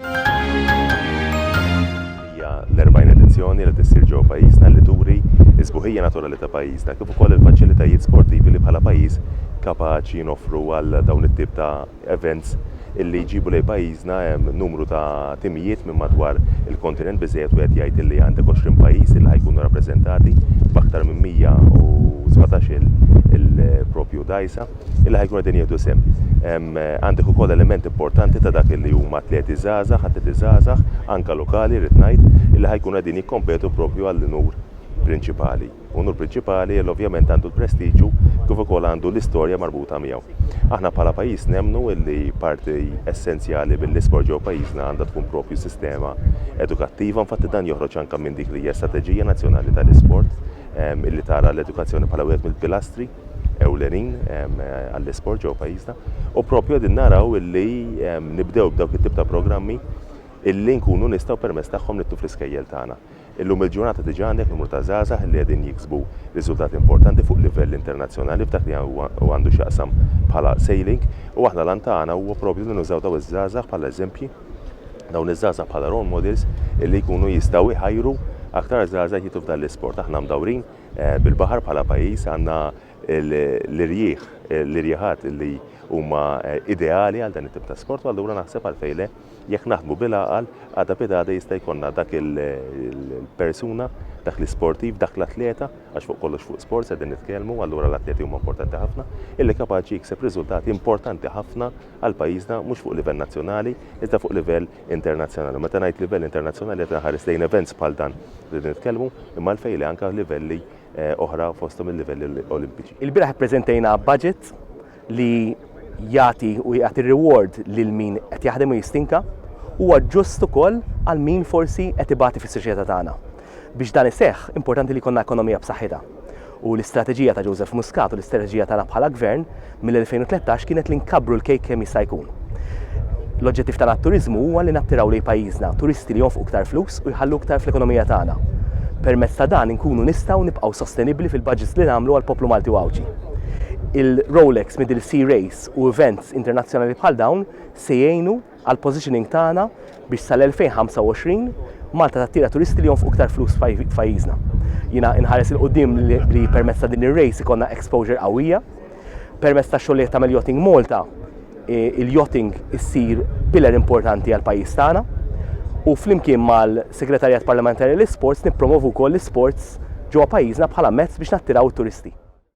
Hija l-40 edizzjoni li qed issir ġewwa pajjiżna li turi s-sbuħija naturali ta' pajjiżna kif ukoll il-faċilitajiet sportivi li bħala pajjiż kapaċi noffru għal dawn it-tip ta' events illi jġibu lejn pajjiżna numru ta' timijiet minn madwar il-kontinent. Biżżejjed wieħed jgħid illi għandek 20 pajjiż illi ħa jkunu rappreżentati b'aktar minn 117-il proprju dgħajsa. illi ħa jkunu qegħdin jieħdu sehem. Għandek ukoll element importanti ta' dak illi huma atleti żgħażagħ, atleti żgħażagħ, anke lokali rrid ngħid, illi ħa jkunu qegħdin jikkompetu proprju għall-unur prinċipali. Unur prinċipali li ovvjament għandu l-prestiġju kif ukoll għandu l-istorja marbuta miegħu. Aħna bħala pajjiż nemmnu illi parti essenzjali mill-isport ġew pajjiżna għandha tkun propju sistema edukattiva, infatti dan joħroġ anke minn dik li hija strateġija nazzjonali tal-isport ehm, illi tara l-edukazzjoni bħala wieħed mill-pilastri ewlenin għall-isport ġewwa pajjiżna u proprju qegħdin naraw illi nibdew b'dawk it-tip ta' programmi illi nkunu nistgħu permezz tagħhom nittu fl-iskejjel tagħna. Illum il-ġurnata diġà għandek numru ta' żgħażagħ li qegħdin jiksbu riżultati importanti fuq livell internazzjonali f'dak li għandu x'jaqsam bħala sailing u aħna l-għan tagħna huwa proprju li nużaw dawn iż-żgħażagħ bħala eżempji, dawn iż-żgħażagħ bħala role models illi jkunu jistgħu jħajru aktar żgħażagħ jidħlu f'dan l-isport. Aħna mdawrin Bil-baħar bħala pajjiż għandna l-irjieħ, l-irjieħat li huma ideali għal dan it-tip ta' sport u allura naħseb għalfejn le, jekk naħdmu bil-għaqal, għada bidgħada jista' jkollna dak il-persuna, dak l-isportiv, dak l-atleta, għax fuq kollox fuq sports qegħdin nitkellmu u allura l-atleti huma importanti ħafna, illi kapaċi jikseb riżultati importanti ħafna għal pajjiżna mhux fuq livell nazzjonali iżda fuq livell internazzjonali. Meta ngħid livell internazzjonali qed inħares lejn events bħal dan li qed nitkellmu, imma għalfejn le anke livelli eh, oħra fosthom il-livelli olimpiċi. Il-bieraħ ippreżentejna budget li jagħti u jagħti reward lil min qed jaħdem u jistinka huwa ġust ukoll għal min forsi qed ibati fis-soċjetà tagħna. Biex dan iseħħ, importanti li jkollna ekonomija b'saħħitha. U l-istrateġija ta' Joseph Muscat u l-istrateġija tagħna bħala Gvern mill-2013 kienet li nkabbru l-kejk kemm jista' jkun. L-oġġettiv tagħna għat-turiżmu huwa li nattiraw lejn pajjiżna turisti li jonfqu iktar flus u jħallu iktar fl-ekonomija tagħna. Permezz ta' dan inkunu nistgħu nibqgħu sostenibbli fil-budgets li nagħmlu għall-poplu Malti u Għawdxi. Il-Rolex Middle Sea Race u events internazzjonali bħal dawn se jgħinu għall-positioning tagħna biex sal-2025 Malta tattira turisti li jonfqu iktar flus f'pajjiżna. Jiena inħares il quddiem li permezz ta' din ir-race ikollna exposure qawwija. Permezz ta' xogħlijiet ta' Yachting Malta, il-yachting issir pillar importanti għall-pajjiż tagħna u flimkien mal-Segretarjat Parlamentari għall-Isports nippromovu wkoll l-isports ġewwa pajjiżna bħala mezz biex nattiraw it-turisti.